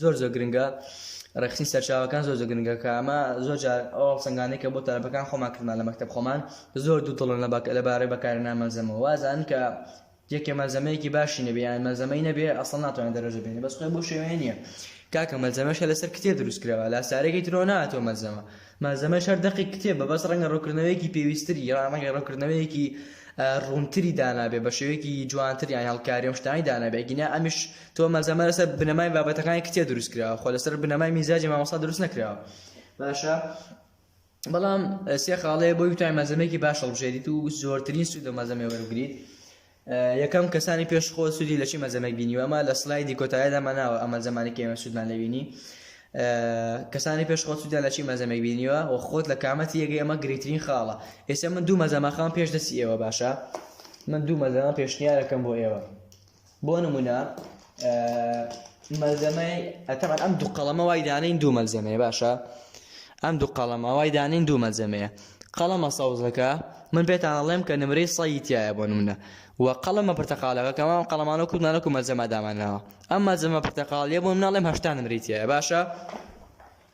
زۆر زۆر گرنگە ڕێکخستنی سەرچاوەکان زۆر زۆر گرنگە کە ئەمە زۆر جار ئەو هەڵسەنگانەی کە بۆ تەلەبەکان خۆمان کردمان لە مەکتەب خۆمان زۆر دوودڵن لەبارەی بەکارهێنان مەلزەمەوە وازانن کە یەکێ مەلزەمەیەکی باشی نەبێ یان مەلزەمەی نەبێ ئەسڵەن ناتوانێت دەرەجە بێنێ بەس خۆی بەو شێوەیە نییە کاکە مەلزەمەش هەر لەسەر کتێب دروست کراوە لاسارێکی ترەوە ناتەوە مەلزەمە مەلزەمەش هەر دەقی کتێبە بەس ڕەنگە ڕوونکردنەوەیەکی پێویستتری یان ڕەنگە ڕوونکردنەوەیەکی ڕوونتری دانابێ بە شێوەیەکی جوانتر یان هەڵکاری ئەم شتانەی دانابێ ئەگینا ئەمیش تۆ مەلزەمە لەسەر بنەمای بابەتەکانی کتێ دروست کراوە خۆ لەسەر بنەمای میزاجی مامۆستا دروست نەکراوە باشە بەڵام سێ خاڵەیە بۆی بتوانین مەزەمێکی باش هەڵبژێریت و زۆرترین سوود لە مەزەمێ وەربگریت یەکەم کەسانی پێش خۆ سوودی لە چی مەزەمێک بینیوە ئەمە لە سلایدی کۆتایەدا ماناوە ئەمە زمانێکی ئێمە سوودمان لەبینی کەسانی پێش خۆ سوودیان لە چی مەزەمێک بینیوە و خۆت لە کامەتی یەگەی ئەمە گرنگترین خاڵە ئێستا من دوو مەزەماخان پێش دەستی ئێوە باشە من دوو مەزەمە پێشنیارەکەم بۆ ئێوە بۆ نمونە مەلزەمەی ئەتەمان ئەم دوو قەڵەمە وای دانین دوو مەلزەمەیە باشە ئەم دوو قەڵەمە وای دانین دوو مەلزەمەیە قەڵەمە سەوزەکە من پێتان ئەڵێم کە نمرەی سەی تایە بۆ نمونە و قەڵەمە پرتەقالەکە کەمان قەڵەمانە و کوردمانە و مەلزەمە دامانناوە ئەم مەلزەمە پرتەقالیە بۆ مناڵێم هەشتا نمری تایە باشە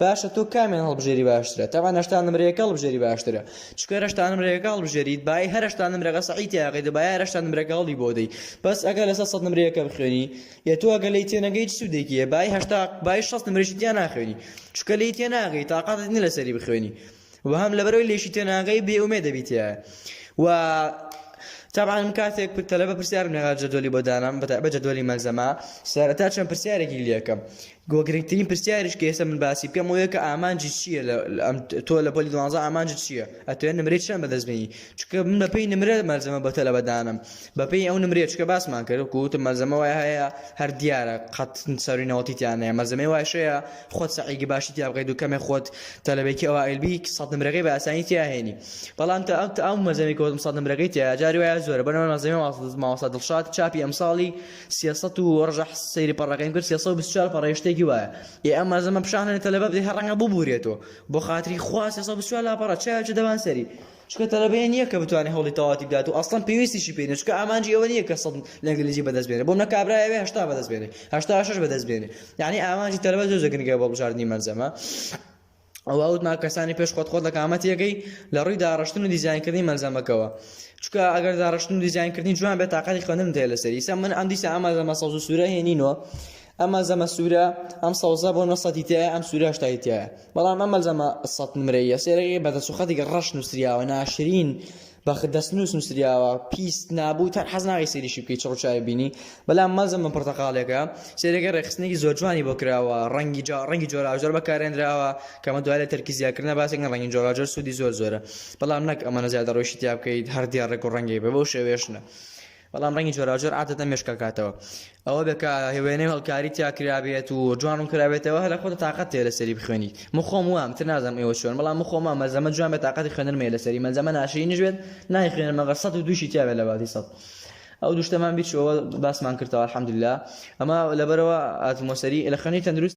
باشە تۆ کامیان هەڵبژێری باشترە تاوان هەشتا نمرەیەەکە هەڵبژێری باشترە چکە هەشتا نمرەیەەکە هەڵبژێریت بای هەرشتا نمرەکە سەعیتیاقی دەبای هەرشتا نمرەکە هەڵی بۆ دەی بەس ئەگەر لەسەر سەد نمرەیەەکە بخوێنی یە تۆ ئەگە لی تێنەگەی سوودێکیە بای هەشتا بای شەست نمرەشی تیا ناخوێنی چکە لی تێناگەی تااقاتت نی لەسەری بخوێنی و هەم لەبەرەوەی لێکی تێناگەی بێ ئومێد دەبیتە و تابان کاتێک پرتەلە بە پرسیارم لەگا جەدۆلی بۆ دانام بە جەدۆلی مەزەما سەرەتا چەند پرسیارێکی لەکەم گۆ گرنگترین پرسیارش کە ئێستا من باسی بکەم وەیە کە ئامانجی چییە لە ئەم تۆ لە پۆلی دوانزە ئامانجت چییە ئەتوێن نمرەی چەند بەدەستبێنی چکە من بە پێی نمرە مەلزەمە بە تەلەبە دانم بە پێی ئەو نمرێ چکە باسمان کرد کووتە مەلزەمە وای هەیە هەر دیارە قەت سەری نەوەتیتیانەیە مەزەمێ واشەیە خۆت سەعیگە باشی تیا بقیت و کەمێ خۆت تەلەبێکی ئەوە ئەلبی سەد نمرەکەی بە ئاسانی تیاهێنی بەڵام تا ئەو ئەو مەزەمی کۆتم سەد نمرەکەی تیا جاری وایە زۆرە بەرەوە مەزەمە ماوەسا دڵشاد چاپی ئەمساڵی سیاست و ڕژە سەیری پەڕەکەیم کرد 324 پەڕێ شتێکی وایە ئێ ئەم مەزەمە پیشانە تەلەبە بدەی هەڕەنگە ببورێتەوە بۆ خاتری خوا 324 لاپەڕە چاوێکی دەبان سەری چونکە تەلەبەیە نیە کە بتوانێت هەوڵی تەواوەتی بدات و ئەسڵەن پێویستیشی پێ نیە چونکە ئامانجی ئەوە نیە کە سەد لە ئینگلیزی بەدەست بێنێت بۆم نە کابرا ئەوێ هەشتا بەدەست بێنێت هەشتا شەش بەدەست بێنێت یعنی ئامانجی تەلەبە زۆر گرنگە بۆ بژاردنی مەلزەمە ئەوە وتما کەسانی پێش خۆت خۆت لە کامەتیەکەی لە ڕووی داڕشتن و دیزینکردنی مەلزەمەکەوە چکە ئەگەر داڕشتن و دیزینکردنی جوان بێت تااقەتی خوێنم دێ لەسەر ئیسا من ئەم دیسە ئەمە لەمە سەوز و سوورە هێنینەوە ئەم مەلزەمە سوورە ئەم سەوزە بۆ نۆ سەتی تایە ئەم سوورە هەشتای تایە بەڵام ئەم مەلزەمە سەت نمرەییە سێرەگەی بە دەست و خەتێکی ڕەش نووسریاوە ناشرین بە دەستنووس نووسریاوە پیس نابوو تەن حەز ناکەی سەیریشی بکەی چڕ و چاوی بینی بەلام مەلزەمە پرتەقاڵێکە سێرەگە ڕێکخستنێکی زۆر جوانی بۆ کراوە ڕەنگی جا ڕەنگی جۆراوجۆر بەکارێنراوە کەمە دوای لە تەرکیزیاکردنە باسێکن ڕەنگی جۆراوجۆر سوودی زۆر زۆرە بەڵام نەک ئەمەە زیادە ڕۆیشتی تیا بکەیت هەر دێڕێک و ڕەنگێک بە بەو شێوێشنە بەڵام ڕەنگی جۆراوجۆر عادەتەن مێشکەکاتەوە ئەوە بێ کە وێنەی هەڵکاری تیا کرابێت و جوان ڕوون کرابێتەوە هەر لە خۆتە تااقەت تێ لەسەری بخوێنی من خۆم وام تر نازانم ئێوە چۆن بەڵام من خۆم وام مەلزەمە جوان بێ تااقەتی خوێندنم هەیە لەسەری مەلزەمە ناشرینیش بێت نایخوێنم مەگەر سەد و دووشی تیا بێت لە باتی سەد ئەو دوشتەمان بیچەوە باسمان کردەوە الحمدللە ئەمە لەبەرەوە ئاتمۆسەری لە خوێنی تەندروست